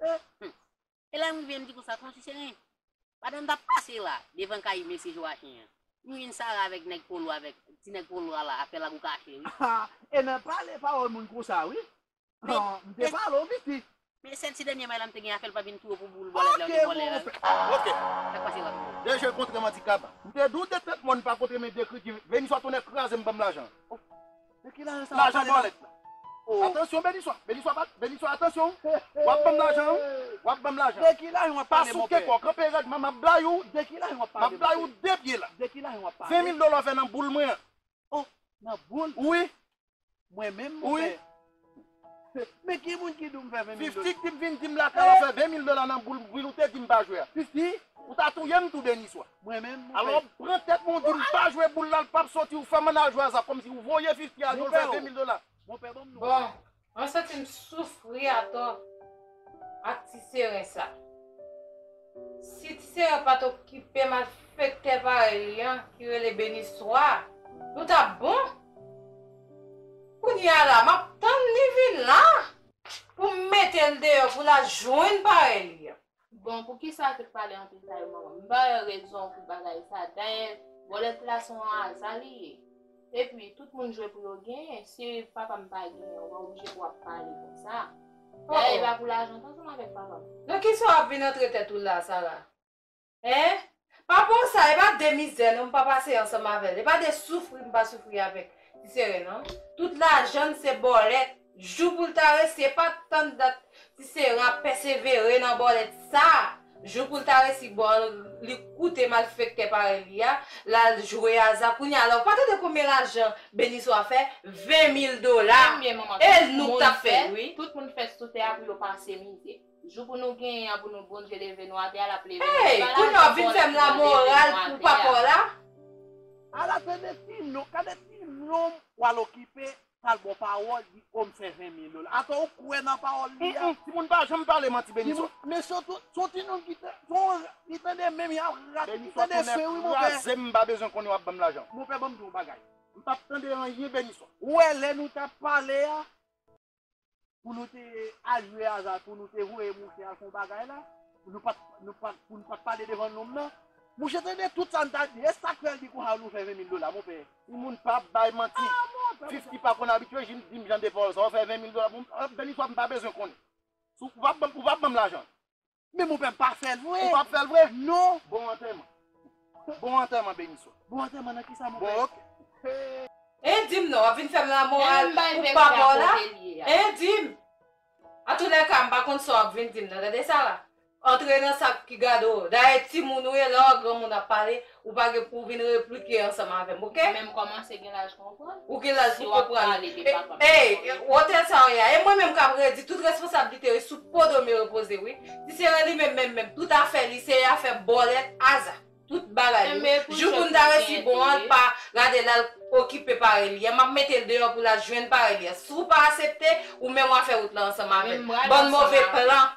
Hum hum e lè m rive m di konsa ton ti seren pandan m tap pase la devan kay mesye Joachin an m jwenn Sara avèk nèg polo avèk ti nèg polo a la ap fè lagou kache wi. Ha e nan pale pawòl moun konsa wi ha m te pale w Misty. Men sèl ti dènye may la m te gen afè l pa vin tou wo pou boul bwalèt la yo te vòlè a wi. Ok Sak pase la Polo? Dè je kontre m an ti kab. M te di w de trèt mòn pa kontre men de kri ki veni swa tonnè kraze m banm lajan. Lajan bòlèt la. Atansyon Beniswa, Beniswa bat, Beniswa atansyon w ap banm lajan an, w ap banm lajan an. Pa souke kò w, kanpe rèd man, m ap bay ou, m ap bay ou de pye la. Ven mil dola w fè nan boul mwen an. Wi, wi. Men ki moun ki di w m fè 20 mil dola? Fifty ki vin di m lakay la fè 20 mil dola nan boul m ou te di m pa jwe a. Fifty? Ou ta touye m tou Deniswa. Mwen menm? Alò pran tèt mwen ou di m pa jwe boul la l pap soti ou fè m an al jwe aza kòmsi ou voye Fifty al jwe l fè 20 mil dola. Bon, mwen santi m soufri atò. Ak ti seren sa. Si ti seren pat okipe malfektè parèy li an ki rele Beniswa nou tap bon! Kounya la map tann li vin la! Pou m mete l deyò pou l al jwenn parèy li an. Bon poukisa te pale an detay manman m ba yo rezon pou bagay sa dayè bòlèt la son aza li ye. Epi tout moun jwe pou yo genyen si papam pa genyen ou pa oblije pou wap pale konsa dayè epa pou lajan tou ansanm avèk papam. Nan kisa wap vin antre tèt ou la Sara hein papa w sa epa de mizè non m pa pase ansanm avèl epa de soufri m pa soufri avèk ti sere non tout lajann se bòlèt. Jou poul ta resi epa tann dat ti sera pèsevere nan bòlèt sa jou poul ta resi bon li koute malfektè parèy li a lal jwe aza kounye a la ou pa tande konbyen lajan Beniswa fè 20 mil dola e nou k tap fèl wi. Tout moun fèt sou tè a pou yo pase mizè jou pou nou genyen an pou nou Bondye leve nou atè a lap leve nou se pa lajan bòlèt ki pral leve nou atè a. Ala se de ti non, gade ti nom wal okipe Pal bon pawol di oh m fè 20 mil ol atò ou kwè nan pawol li a. Timoun pa janm pale manti Beniso. Mesye son tinoun ki tande menm yap rat li tande fen wi monpè. Beniso tonnè krazem mpa bezwen konnen wap banm lajan. Monpè banm di yon bagay mpap tande anyen Beniso. Ou wè lè nou tap pale a. pou nou te al jwe aza, pou nou te voye mouche al fè yon bagay la, pou nou pa t pale devan nonm nan. Mouche tande tout sa n t ap di, e sa k fè l di kon sa nou fè venmil dola, monpè? Yon moun pa bay manti. Fifty pa konn abitye, jis di m jan de pawòl sa a, ou fè venmil dola pou m, bèl istwa m pa bezwen konnen. Ou pa ban m lajan l. Men mon pè pa fèl vre. Ou pap fèl vre? Non. Bon antèman. Bon antèman Beniswa. Bon antèman nan kisa mon pè? Bon ok. Hein dim non wap vin fèm lanmò a pou papaw la hein dim antoulèka mpa konn sa wap vin dim nan tande Sarah antre nan sak ki gadew dayè timoun ou ye lè wap granmoun ap pale Ou pa gen pou vin replike ansanm avèm ok. Mwen menm kòmanse gen laj konprann. Ou gen laj pou konprann. Si wap pale de papa m. Ey wotè sa w ye a. E mwen menm kap redi tout responsablite yo sou po do m yo repoze wi. Ti sere li menm menm menm tout afè li se afè bòlèt aza. Tout bagay li wi. Jou pou n ta resi bon an l pa gade l al okipe parèy li an. Map mete l deyò pou l al jwenn parèy li an. Si w pa asepte ou menm wap fè wout lan ansanm avè l. Bann move plan.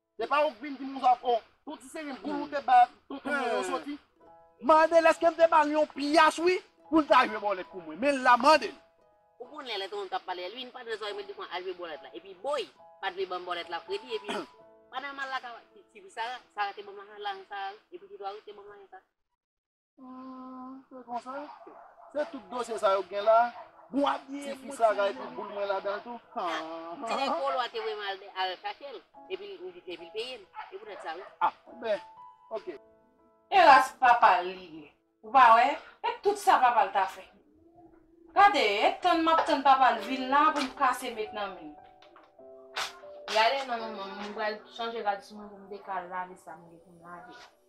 Se pa ou k vin dim ou zòt oh. Son ti seri m boul ou te ba tonton mwen yo soti. Mandel eskem te bal yon pyas wi poul ta jwe bòlèt pou mwen men la mandel. Ou konnen lè tonton tap pale Elwin pa dwe zòrèy mwen difwa al jwe bòlèt la epi boy pa dwe banm bòlèt la fredi epi pa nòmal la ka ti fi sara sara te banm lajan sara wi epi ti twa wi te banm lajan sara. Se konsa? Se tout dosye sa yo gen la? Bon ak ye mwen sa gay pou boul mwen la dan tou. Se lè kolo a te voye mwen al chache l epi l peye m. E pou tèt sa wi. Ah ben ok. Elas papa l li ye ou pa wè et tout sa papa l ta fè. Gade et tann map tann papa l vin la pou m kase met nan men l. Yale non manman m pral chanje rad sou mwen pou m te ka lave sa m gen pou m lave.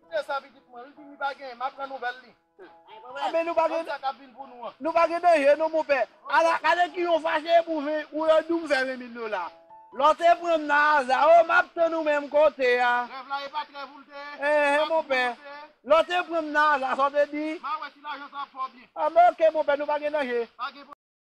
Koute sa pitit mwen, li vini pa genyen, m'ap pran nouvèl li. Anben nou pa gen. Konn sa k'ap vin pou nou an. Nou pa gen danje non monpè. Ala gade ki yon fache epou ven ou yo di'w m'fè ven mil dola. Lò te pran'm nan aza oh m'ap tann ou menm kote a. Rèv la e pa t rèv ou l'te ye? Ehe monpè. E pa ti moun ou te ye? Lò te pran'm nan aza sa w te di? M'a wè si lajan sa ap fè w byen. Anben ok monpè nou pa gen danje. Pa gen.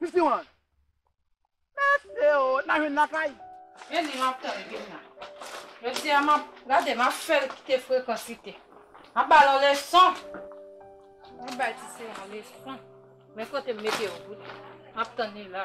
Mesi wan. Mesi oo na jwenn lakay. Mezii map tann vim nan. Jodia map gade map fel kite frekans li te. Map bal yon leson. Map bay ti se yon leson. Men kotem mete yo bout. Map tann li la.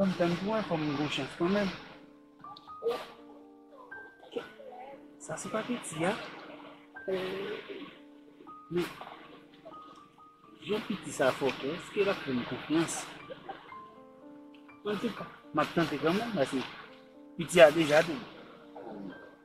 Mwen tann pou wè fò mwen gon chans kan menm. Sa se pa piti a. Men, jan piti sa fò kè, eske l ap fè m konfyans? An tou ka, m ap tante kan menm paske piti a deja di.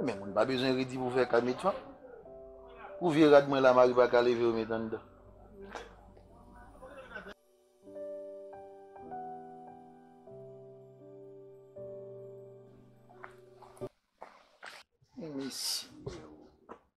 Men moun pa bezwen redi pou fè kay met fanm. Pou vye rad mwen la mari pa ka leve remet anndan. Mesi.